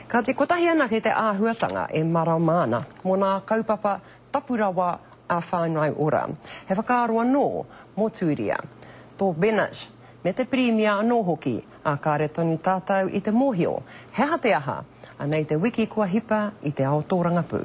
Kāti kotahi anake te āhuatanga e marama ana mō nā kaupapa tapu rawa a Whāngai Ora. He whakaaro anō mō Tūria, tō Bennett me te Pirimia anō hoki, ā, kāre tonu tātau i te mōhio he aha te aha, anei te wiki kua hipa i te ao tōrangapū.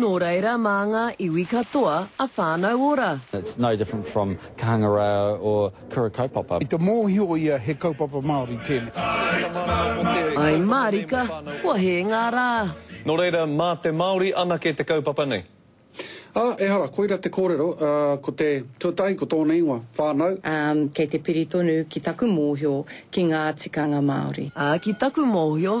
Nō reira mā ngā iwi katoa a Whānau Ora. It's no different from Kahangarao or Kura Kaupapa. I te mōhio ia he kaupapa Māori tēnei. Ai mārika, kua hē ngā rā. Nō reira, mā te Māori anake te kaupapa nei. Ā, ehara, koira te kōrero, ā, ko te tuatahi, ko tōna ingoa, Whānau. Ā, kei te piri tonu ki taku mōhio ki ngā tikanga Māori. Ā, ki taku mōhio,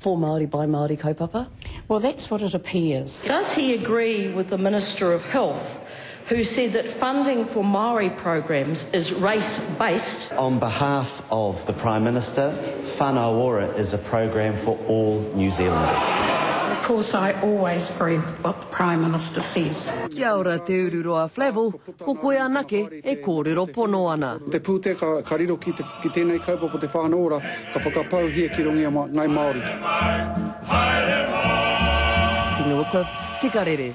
For Māori by Māori kaupapa. Well that's what it appears. Does he agree with the Minister of Health who said that funding for Māori programs is race based? On behalf of the Prime Minister, Whana Ora is a program for all New Zealanders. Of course I always agree with what the Prime Minister says. Kia ora Te Ururoa Flavell, ko koe anake e kōrero pono ana. Te pūtea ka riro ki te. Ki tēnei kaupapa Te Whānau Ora ka whakapauhia ki runga i a Ngai Māori. Tino Cliff, Tika Rere.